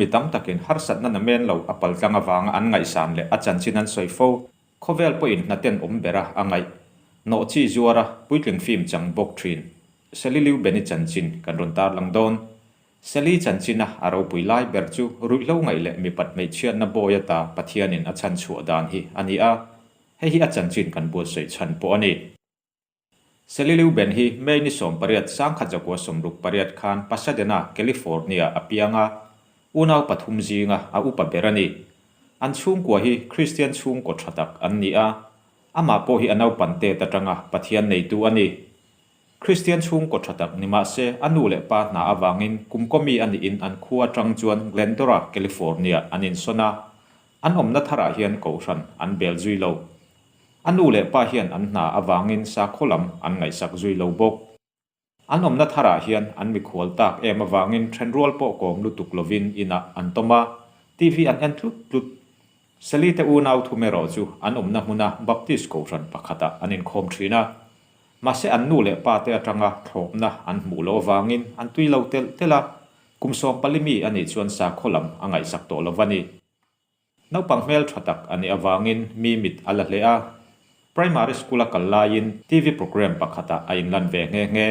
mi tam takin harsatna na men lo a paltlang avanga an ngaihsan leh a chanchin an sawi fo, khawvel pawhin hnaten awm bera a ngaih hnawh chi zuara puitling fim chang bawk thin Sally Liu Benny chanchin kan rawn tarlang dawn. Sally chanchina a ropui lai ber chu ruihhlo ngaih leh mi pat hmeichhiatna bawi ata Pathianin a chhan chhuah dan hi a ni a, hei hi a chanchin kan buatsawi chhan pawh a ni. Celilio Ben hi May ni sawm pariat sang khat zakua sawmruk pariat khan Pasadena, California a piang a, unau pathum zinga a upa ber a ni. An chhungkua hi Kristian chhungkaw tha tak an ni a, amah pawh hi a naupan tet atanga Pathian neitu a ni. Kristian chhungkaw tha tak ni mah se, a nu leh pa hna avangin kumkaw mi a niin an khua atang chuan Glendora, California an insawn a, an awmna tharah hian kohhran an bel zui lo. A nu leh pa hian an hna avangin sakhaw lam an ngaihsak zui lo bawk. An awmna tharah hian an mikhual tak em avangin then rual pawh kawm lutuk lovin inah an tawm a, TV an en tlut tlut. Sally te unau thum erawh chu an awmna hmuna Baptist kohhran pakhatah an inkhawm thin a. Mahse an nu leh pa te atanga thlawpna an hmuh loh avangin an tui lo telh telh a. Kum sawm pali mi a nih chuan sakhaw lam a ngaihsak tawh lo va ni. Naupang hmeltha tak a nih avangin mi mit a la hle a. Primary School a kal laiin TV programme pakhatah a inlan ve nghe nghe.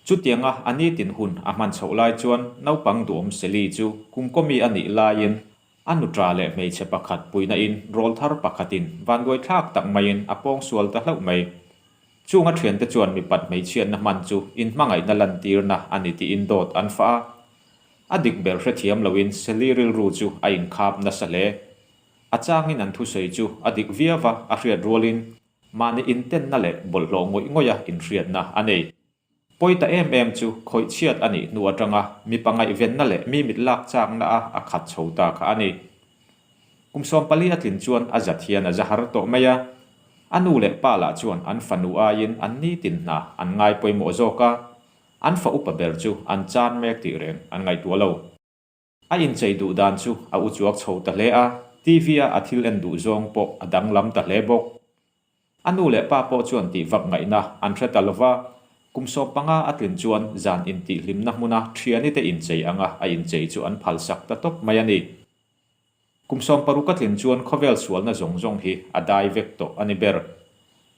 Chutianga a nitin hun a hman chhoh lai chuan naupang duhawm Sally chu kungkawmi a nih laiin a nuṭa leh hmeichhe pakhat puinain rawl thar pakhatin vanduai thlak tak maiin a pawng sual ta hlauh mai. Chunga ṭhiante chuan mi pat hmeichhiatna hman chu inhmangaihna lantirna a ni tiin dawt an fah a. A dik ber hrethiam loin Sally rilru chu a inkhap nasa hle. A changin an thusawi chu a dik viau a, a hriat rualin. Mahni intenna leh bawlhhlawh ngawih ngawihah inhriatna a nei. Pawi ta em em chu khawih chhiat a nih hnu atanga mipa ngaihvenna leh mi mit lak chakna a a khat chho ta kha a ni. Kum sawm pali a tlin chuan a zat hian a za har tawh mai a. A nu leh pa lah chuan an fanu aiin an nitin hna an ngai pawimawh zawk a. An fa upa ber chu an chan mek tih reng an ngaihtuah lo. A inchei duh dan chu a uchuak chho ta hle a, TV a a thil en duh zawng pawh a danglam ta hle bawk. A nu leh pa pawh chuan tih vak ngaihna an hre ta lova, kum sawm panga a tlin chuan zan intihhlimna hmuna thianite inchei anga a inchei chu an phalsak ta tawp mai a ni. Kum sawm paruk a tlin chuan khawvel sualna zawng zawng hi a dai vek tawh a ni ber.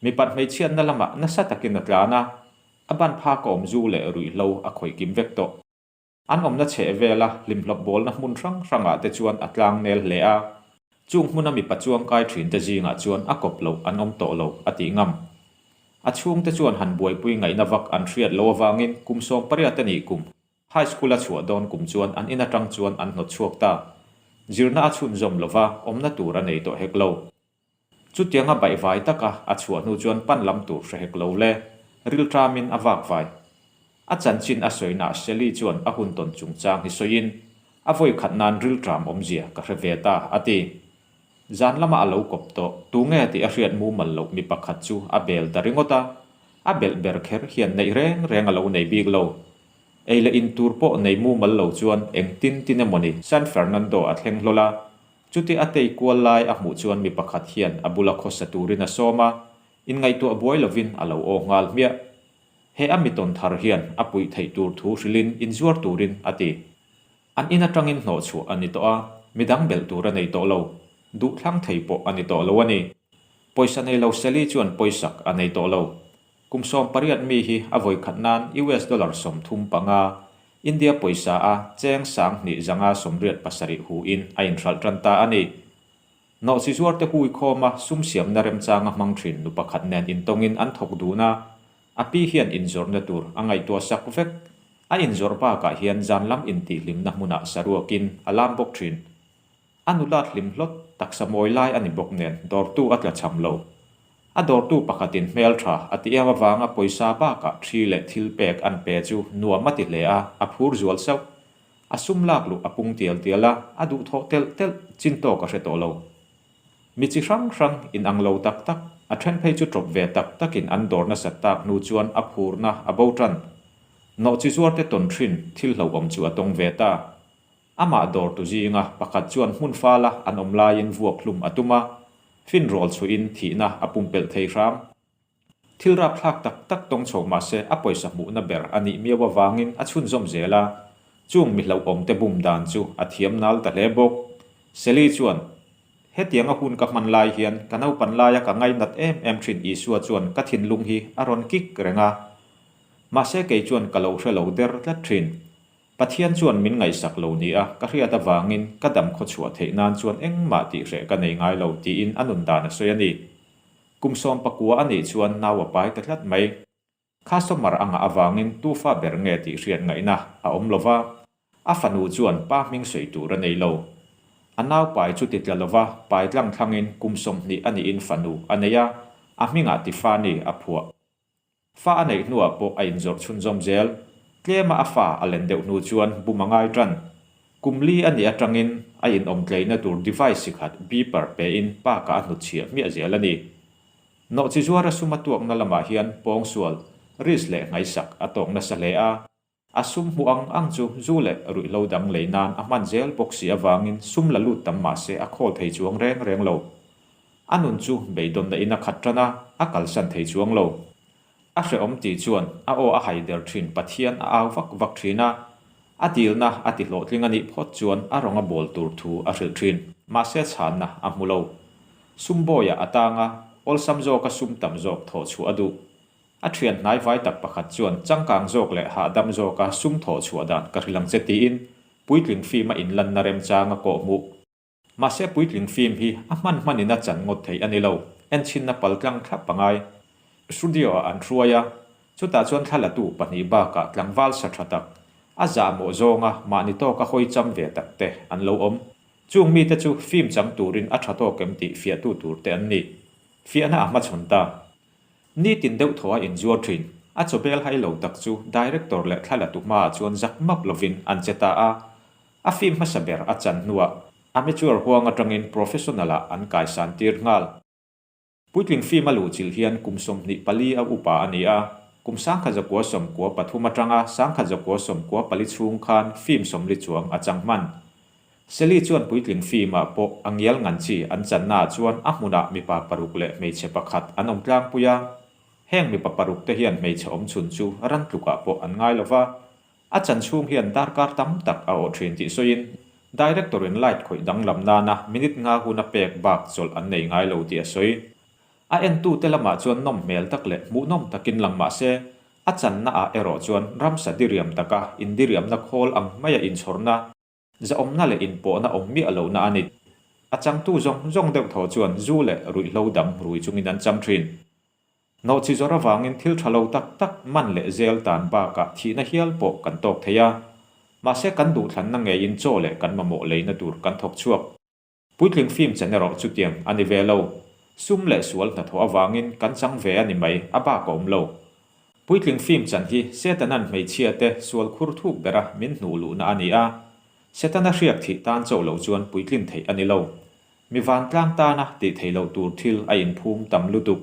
Mipat hmeichhiatna lamah nasa takin a tlan a, a ban phak a awm zu leh ruihhlo a khawih kim vek tawh. An awmna chheh vela hlimhlawp bawlna hmun hrang hrangah te chuan a tlang nel hle a, chung hmuna mipa chuangkai thinte zingah chuan a kawp loh an awm tawh lo a tih ngam. A chhungte chuan han buaipui ngaihna vak an hriat lo avangin kum sawm pariat a nih kum. High School a chhuah dawn kum chuan an in atang chuan an hnawt chhuak ta. Zirna a chhunzawm lo va, awmna tur a nei tawh hek lo. Chutiang a baih vai taka a chhuah hnu chuan pan lam tur hre hek lo le, rilṭamin a vak vai. A chanchin a sawihnah Sally chuan a hun tawn chungchang hi sawiin, A vawi khat nan rilṭam awmzia ka hre ve ta, a ti. Zan lama a lo kawp tawh. Tunge tih a hriat mumal loh mi pakhat chu a bel ta ringawt a. A belh ber kher hian neih reng reng a lo nei bik lo. Ei leh in tur pawh nei mumal lo chuan eng tin tin emaw ni. San Fernando a thleng hlawl a. Chuti a tei kual lai a hmuh chuan mi pakhat hian a bula khawsa turin a sawm a, inngaihtuah buai lovin a lo aw nghal hmiah. He a mi tawn thar hian a puih theih tur thu hrilhin in zuar turin a ti. An in atangin hnawh chhuah a ni tawh a, midang belh tur a nei tawh lo, duhthlang thei pawh a ni tawh lo a ni. Pawisa nei lo Sally chuan pawisak a nei tawh lo. Kum sawm pariat mi hi a vawikhat nan US dollar sawm thum panga, India pawisa a cheng sang hnih zanga sawmriat pasarih hu in a in hralh tan ta a ni. Hnawh chi zuar te huikhawm a sum siamna remchanga hmang thin nu pakhat nen intawngin an thawk dun a, A pi hian inzawrhna tur a ngaihtuah sak vek. A inzawrh bakah hian zan lam intihhlimna hmunah saruakin a lam bawk thin. A nulat hlim hlawt taksa mawi lai a ni bawk nen dawrtu a tla cham lo. A dawrtu pakhatin hmeltha a ti em avanga pawisa bakah thi leh thil pek an pe chu nuam a ti hle a, a phur zual sauh. A sum lak luh a pung tial tial a, a duh thawh telh telh, chin tawk a hre tawh lo. Mi chi hrang hrang in ang lo tak tak, a then phei chu tawp ve tak tak in an dawr nasat tak hnu chuan a phurna a bo tan. Nawh chi zuar te tawn thin, thil hlohawm chu a tawng ve ta. Amah dawr tu zinga pakhat chuan hmun fala an awm laiin vuak hlum a tum a, finrawl chhuin thihna a pumpelh thei hram. Thil rapthlak tak tak tawng chho mahse a pawisa hmuhna ber a nih miau avangin a chhunzawm zel a, chung mi hlauhawmte bum dan chu a thiam nal ta hle bawk. Sally chuan, Hetiang a hun ka hman lai hian ka naupan laia ka ngainat em em thin Isua chuan ka thinlung hi a rawn kik reng a. Mahse kei chuan ka lo hre lo der tlat thin. Pathian chuan min ngaihsak lo ni a, ka hriat avangin ka dam khaw chhuah theih nan chuan engmah tih hreh ka nei ngai lo, tiin a nun dan a sawi a ni. Kum sawm pakua a nih chuan nau a pai ta tlat mai. Customer a ngah avangin tufa ber nge tih hriat ngaihna a awm lova, a fanu chuan pa hming sawi tur a nei lo. A nau pai chu ti tla lova pai tlang thlangin kum sawmhnih a nihin fanu a nei a, a hmingah tifa ni a phuah. Fa a neih hnuah pawh a inzawrh chhunzawm zel. Tlema a fa a len deuh hnu chuan bum a ngai ṭan. Kum li a nih aṭangin a inawmtleina tur device sikhat, beeper, pehin Park-a a hnut chhiah hmiah zel a ni. Nawhchizuar a sum a tuakna lamah hian pawngsual, risk leh hngai sak, a tawk nasa hle a. A sum hmu ang ang chu zu leh ruih lo dang lei nan a hman zel bawk si avangin sum la lut tam mah se a khawl thei chuang reng reng lo. A nun chu beidawmna in a khat tan a, a kalsan thei chuang lo. A hrehawm tih chuan a aw a hai der thin Pathian a au vak vak thin a, a dilna a ti hlawhtling a nih phawt chuan a rawnga bawl tur thu a hrilh thin. Mahse chhanna a hmu lo. Sum bawiah a tang a, awlsam zawka sum tam zawk thawh chhuah a duh. A thian hnai vai tak pakhat chuan changkang zawk leh hahdam zawka sum thawh chhuah dan ka hrilh ang che tiin puitling fim a inlanna remchang a kawh hmuh. Mahse puitling fim hi a hman hman in a chan ngawt thei a ni lo, enthinna pal tlang thlap pangai studio ah an hruai a, chutah chuan thla la tu pahnih bakah tlangval sa tha tak, a zahmawh zawnga mahni tawka hawi cham ve tak te an lo awm. Chung mite chu fim chang turin a tha tawk em tih fiahtu tur te an ni. Fiahna a hmachhawn ta. Nitin deuh thaw a inzuar thin. A chawbel hai lo tak chu Director leh thla latu hmaah chuan zak map lovin an che ta a. A film hmasa ber a chan hnuah Amateur huang atangin Professional ah an kaisan tir nghal. Puitling film a luhchilh hian kum sawmhnih pali a upa a ni a. Kum sangkhat zakua sawm kua pathum atanga sangkhat zakua sawm kua pali chhung khan film sawmli chuang a chang hman. Sally chuan puitling fimah pawh a ngial ngan chi, an channaah chuan a hmunah mipa paruk leh hmeichhe pakhat an awm tlangpui a, heng mipa parukte hian hmeichhe awm chhun chu ran tlukah pawh an ngai lo va, a chan chhung hian darkar tam tak a awh thin tih sawiin Director-in light khawih danglam nana minute nga hun a pek bak chawlh an nei ngai lo tih a sawi. A entute lamah chuan nawm hmel tak leh hmuhnawm takin lang mah se, a channaah erawh chuan ramsa diriam taka indiriamna khawl ang maia inchhawrhna, Zahawmna leh inpawhna awm miah lohna a ni. A changtu zawng zawng deuh tho chuan zu leh ruihhlo dam rui chungin an cham thin. Nawhchi zawrh avangin thil tha lo tak tak man leh zel tan bakah thihna hial pawh kan tawk thei a, mahse kan duhthlanna ngeiin chaw leh kan mamawh leina tur kan thawk chhuak. Puitling fim chhen erawh chutiang a ni ve lo. Sum leh sual hnathawh avangin kan chang ve a ni mai, a bak a awm lo. Puitling fim chan hi Setanan hmeichhiate sual khur thuk bera min hnuh luhna a ni a. Setana hriak thih tan chauh loh chuan puitling theih a ni lo. Mi vantlang tana tih theih loh tur thil a inphum tam lutuk.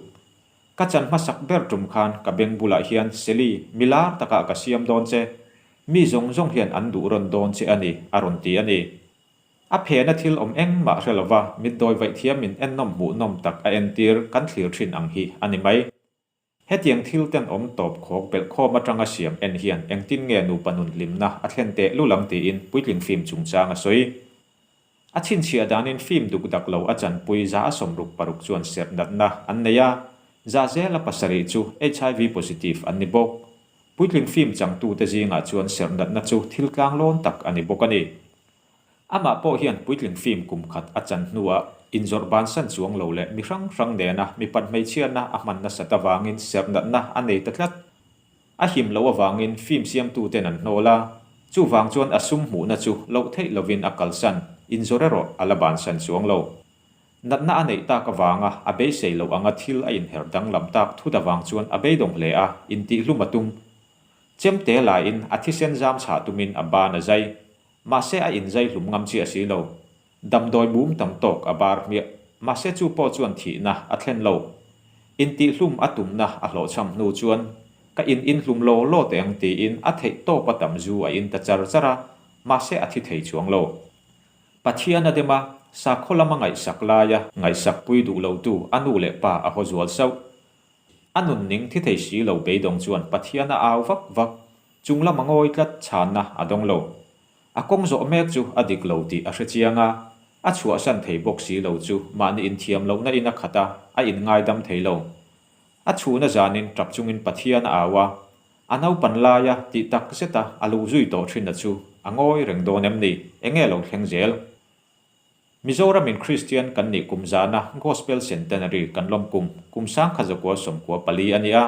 Ka chan hmasak ber tum khan ka beng bulah hian Sally mi lar takah ka siam dawn che. Mi zawng zawng hian an duh rawn dawn che a ni, a rawn ti a ni. A phena thil awm engmah hre lova mitdawi vaih thiamin ennawm hmuh nawm tak a entir kan thlir thin ang hi a ni mai. Hetiang thil ten awm tawp khawk belhkhawm atanga siam en hian engtin nge nupa nun hlimna a thlen teh lul ang tiin puitling fim chungchang a sawi. A chhinchhiah danin fim dukdak lo a chanpui za a sawm ruk paruk chuan serh natna an nei a, za zela pasarih chu HIV positive an ni bawk. Puitling fim changtute zingah chuan serh natna chu thil tlang lawn tak a ni bawk a ni. Amah pawh hian puitling fim kum khat a chan hnuah inzawrh bansan chuang lo leh mi hrang hrang nena mipat hmeichhiana a hman nasat avangin sernatna a nei ta tlat. A him loh avangin fim siamtuten an hnawl a, chuvang chuan a sum hmuhna chu loh theih lovin a kalsan, inzawrh erawh a la bansan chuang lo. Natna a neih tak avanga a beisei loh anga thil a inherh danglam tak thut avang chuan a beidawng hle a, intihhlum a tum. Chemte lain a thisen zam chhah tumin a ban a zai. Mahse a inzai hlum ngam chi a si lo. Damdawi bum tam tawk a bar hmiah. Mahse chu pawh chuan thihna a thlen lo. Intihhlum a tumna a hlawhchham hnu chuan ka in inhlum law law teh ang tiin a theih tawp a tam zu a in ta char char a, mahse a thi thei chuang lo. Pathian a dem a, sakhaw lam a ngaihsak laia ngaihsakpui duh lotu a nu leh pa a haw zual sauh. A nunning thi thei si lo beidawng chuan Pathian a au vak vak, chung lam a ngawi tlat chhanna a dawng lo. A kawng zawh mek chu a dik lo tih a hre chiang a, a chhuahsan thei bawk si lo chu mahni inthiam lohna in a khat a, a inngaidam thei lo. A chhuna zanin tap chungin Pathian a au a, a naupan laia tih tak zeta a lu zui tawh thinna chu a ngawi reng dawn em ni? Enge lo thleng zel? Mizoramin Kristian kan nih kum zana Gospel Centenary kan lawm kum, kum sangkhat zakua sawmkua pali a ni a.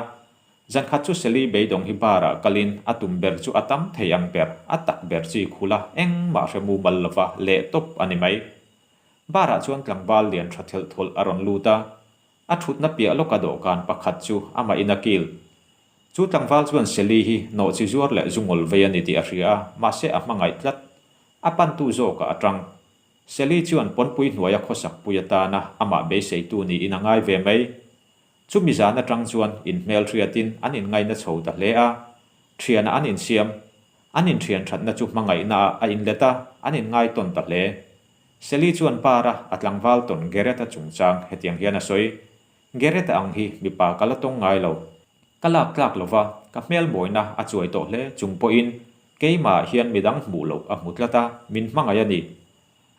Zankhat chu Seli beidawng hi barah kalin a tum ber chu a tam thei ang ber, a tak ber chi khula engmah hre mumal lova leh tawp a ni mai. Barah chuan tlangval lian tha thelh thawlh a rawn lut a, A thutna piah lawka dawhkan pakhat chu amahin a kil. Chu tlangval chuan Sally hi nawh chi zuar leh zu ngol vei a ni tih a hria a, mahse a hmangaih tlat. A pantu zawkah a ṭang. Sally chuan pawnpui hnuaia khawsak pui atana amah beiseitu niin a ngai ve mai. Chumi zan aṭang chuan in hmelhriatin an inngaina chho ta hle a. Ṭhianah an insiam. An inthianthatna chu hmangaihnaah a inlet a, an inngai tawn ta hle. Sally chuan para a tlangval tawn Geretta chungchang hetiang hian a sawi, Geretta ang hi mipa ka la tawng ngai lo. Ka lak tlak lo va, ka hmelmawina a chuai tawh hle chung pawhin keimah hian midang hmuh loh a hmu tlat a, min hmangaih a ni.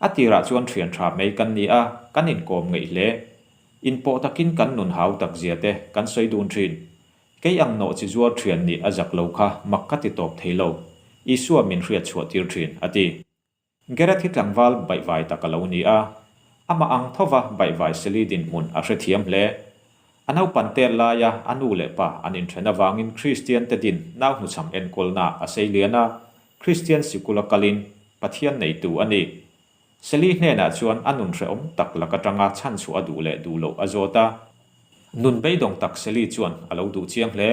A tirah chuan ṭhiantha mai kan ni a, kan inkawm ngeih hle. In pawh takin kan nun hau takzia te kan sawi dun ṭhin. Kei ang nawh chi zuar ṭhian nih a zak lo kha mak ka ti tawp thei lo. Isua min hriatchhuah tir ṭhin, a ti. Gareth hi tlangval baihvai tak a lo ni a, amah ang thova baihvai seli dinhmun a hrethiam hle. A naupan tel laia a nu leh pa an inthen avangin Kristiante din nau hnuchham enkawlnaah a seilian a, Kristian sikula kalin Pathian neitu a ni. Seli hnenah chuan a nunhrehawm tak lak atanga chhanchhuah a duh leh duh loh a zawt a. Nun beidawng tak Sally chuan a lo duh chiang hle.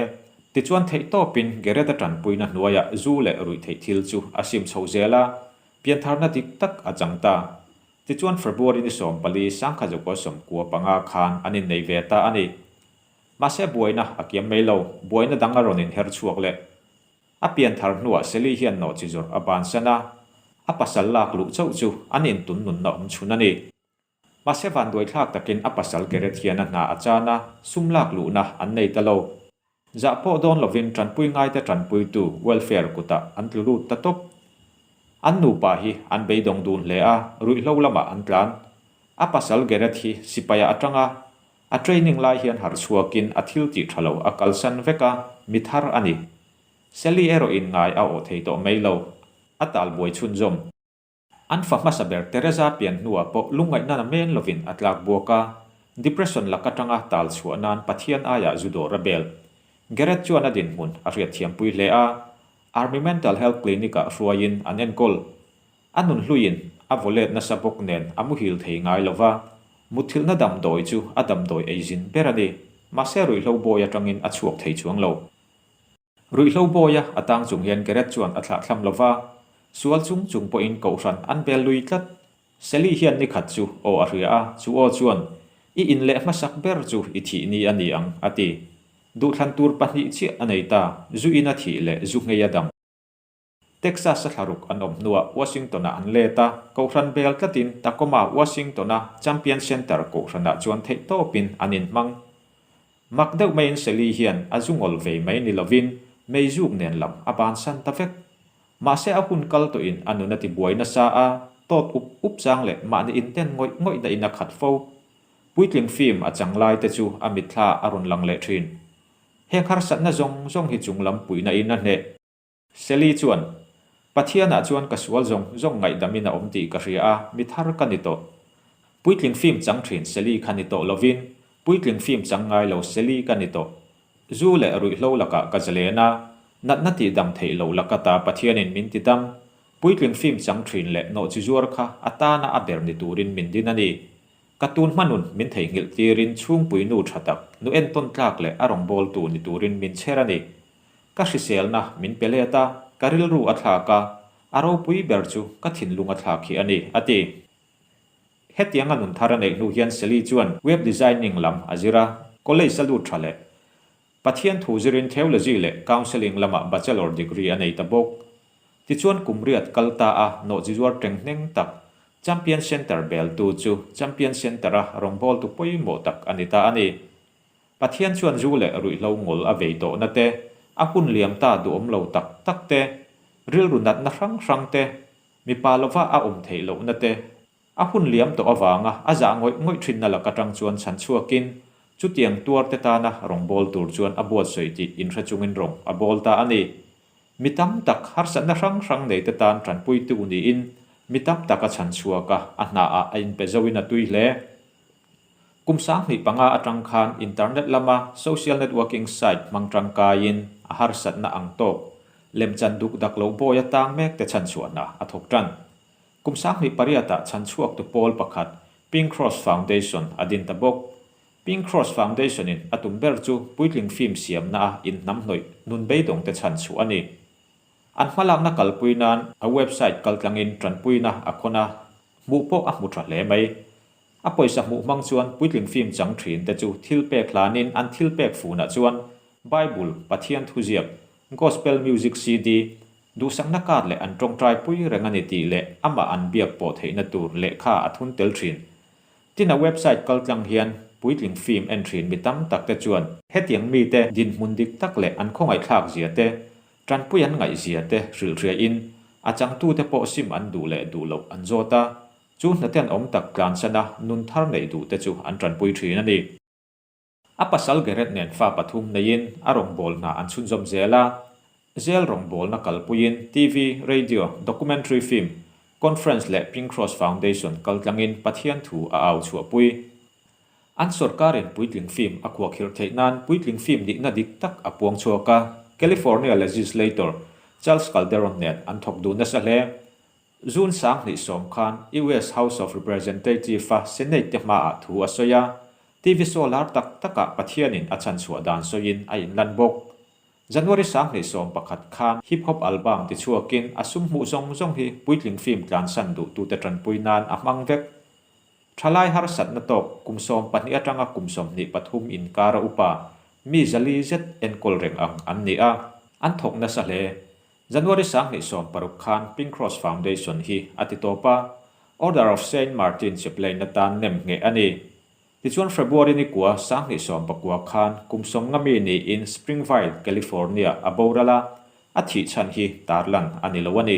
Tichuan theihtawpin Gereta tanpuina hnuaiah zu leh ruih theih thil chu a sim chho zel a, piantharna dik tak a chang ta. Tichuan February ni sawm pali sangkhat zukua sawm kua panga khan an innei ve ta a ni. Mahse buaina a kiam mai lo, buaina dang a rawn inher chhuak leh. A pianthar hnuah Sally hian nawhchi zawrh a bansan a, a pasal lak luh chauh chu an intunnunna awm chhun a ni. Mahse van duaithlak takin a pasal keret hian a hna a chan a, sum lak luhna an nei ta lo. Zah pawh dawn lovin tanpui ngaite tanpuitu welfare kutah an tlulut ta tawp. An nupa hi an beidawng dun hle a, ruihhlo lamah an tlan. A pasal Gerret hi sipaiah a tang a, a training lai hian harh chhuakin a thil tih tha lo a kalsan vek a, mi thar a ni. Sally erawh inngai a awh thei tawh mai lo, a talbuai chhunzawm. An fa hmasa ber Teresa pian hnua pawh lungngaihna na meng lovin a tlak buak a, depression lak atanga tal chhuah nan Pathian aiah zu dawr a bel. Gerret chuan a dinhmun a hriatthiam pui hle a, Army Mental Health Clinic-ah a hruaiin an enkawl. A nun hluin a vawlet nasa bawk nen a muhil thei ngai lo va, mutthilhna damdawi chu a damdawi ei zin ber a ni, mahse ruihhlo bawi atangin a chhuak thei chuang lo. Ruihhlo bawi a a tang chung hian Gerret chuan a thlah thlam lo va, sual chung chung pawhin kohhran an bel lui tlat. Sally hian ni khat chu aw a hria a, chu aw chuan, I in leh hmasak ber chu i thih ni a ni ang, a ti. Duhthlan tur pahnih chiah a nei ta, zu ina thih leh zu hngei a dam. Texas-a thlaruk an awm hnuah Washington-ah an let a, Kohhran vel tlatin Tacoma, Washington-a Champion Center kohhranah chuan theih tawpin an in hmang. Mak deuh maiin Sally hian a zu ngol ve mai ni lovin meizuk nen lam a ban san ta vek. Mahse a hun kal tawhin a nun a ti buai nasa a, tawt up up chang leh mahni inten ngawih ngawih dahin a khat fo. Puitling fim a chang laite chu a mitthla a rawn lang leh thin. Heng harsatna zawng zawng hi chunglam puihnahin a hneh. Sally chuan, Pathianah chuan ka sual zawng zawng ngaihdamin a awm tih ka hria a, mi thar ka ni tawh. Puitling fim chang thin Sally kha ni tawh lovin, puitling fim chang ngai lo Sally ka ni tawh. Zu leh ruihhlo lakah ka zalen a, natna tih dang theih loh laka ta Pathianin min ti dam. Puitling fim chang thin leh nawhchizuar kha a tana a ber ni turin min din a ni. Ka tun hmanun min theihnghilh tirin chhungpui nu tha tak, nu entawn tlak leh a rawngbawltu ni turin min chher a ni. Ka hriselna min pe let a, ka rilru a thlak a, a ropui ber chu ka thinlung a thlak khi a ni, a ti. Hetiang a nun thar a neih hnu hian Sally chuan Web Designing lam a zir a, College a lut tha leh Pathian thu zirin Theology leh Counselling lama Bachelor degree a nei ta bawk. Tichuan kum riat kal ta a nawh chi zuar ṭeng hneng tak, Champion Centre beltu chu Champion Centre-a rawngbawltu pawimawh tak a ni ta a ni. Pathian chuan zu leh ruihhlo ngol a vei tawhna te, a hun liam ta duhawm lo tak tak te, rilru natna hrang hrang te, mipa lova a awm theih lohna te, a hun liam tawh avanga a zah ngawih ngawih thinna lak atang chuan chhan chhuakin chutiang tuarte tana rawngbâwl tur chuan a buatsawi tih inhre chungin rawn a bâwl ta a ni. Mi tam tak harsatna hrang hrang neite tân ṭanpuitu niin mi tam taka chhan chhuaka a hnâah a inpe zauhin a tui hle. Kum sanghnih panga atang khan internet lama social networking site hmang tangkaiin a harsatna ang tawk lem chan duk dak lo bawi atang mek te chhan chhuahna a thawk tan. Kum sanghnih pariatah chhan chhuaktu pawl pakhat Pink Cross Foundation a din ta bawk. Pink Cross Foundation-in a tum ber chu puitling fim siamna a inhnam hnawih nun beidawng te chhan chhuah a ni. An hmalakna kalpui nan a website kaltlangin tanpuina a khawn a, hmuh pawh a hmu tha hle mai. A pawisa hmuh hmang chuan puitling fimchang thinte chu thil pek hlanin an thil pek funah chuan Bible, Pathian thu ziak, Gospel Music CD, duhsakna card leh an tawngtai pui reng a ni tih leh amah an biak pawh theihna tur lehkha a thun tel thin. Tina website kal tlang hian puitling fim en thin mi tam tak te chuan, hetiang mite dinhmun dik tak leh an khawngaihthlak zia te, tanpui an ngaihzia te hrilhhriain a changtute pawh sim an duh leh duh loh an zawt a, Chu hnate'n awm tak tlansan a nun thar neih duh te chu an tanpui thin a ni. A pasal Gerret nen fa pathum neiin a rawngbâwl hna an chhunzawm zel a, zel rawngbâwlna kalpuiin TV, radio, documentary film, conference leh Pink Cross Foundation kal tlangin Pathian thu a au chhuahpui. An sorkarin puitling film a khuakhirh theih nan puitling film nihna dik tak a puang chhuak a, California legislator Charles Calderon nen an thawk duh nasa hle. June sanghnih sawm khan US House of Representative-a Senate-te hmaah thu a sawi a, TV show lar tak takah Pathianin a chhanchhuah dan sawiin a inlan bawk. January sanghnih sawm pakhat khan Hip Hop Album ti chhuakin a sum hmuh zawng zawng hi puitling film tlansan duhtute tanpui nan a hmang vek. Thalai harsatna tawk kum sawm pahnih atanga kum sawmhnih pathum inkara upa mi zali zet enkawl reng ang an ni a, an thawk nasa hle. January sanghnih sawm paruk khan Pink Cross Foundation hi a ti tawp a, Order of Saint Martin chepleina tan nem ngheh a ni. Tichuan February ni kua sanghnih sawm pakua khan kum sawmnga mi niin Springvale, California a boral a, a thih chhan hi tarlan a ni lo a ni.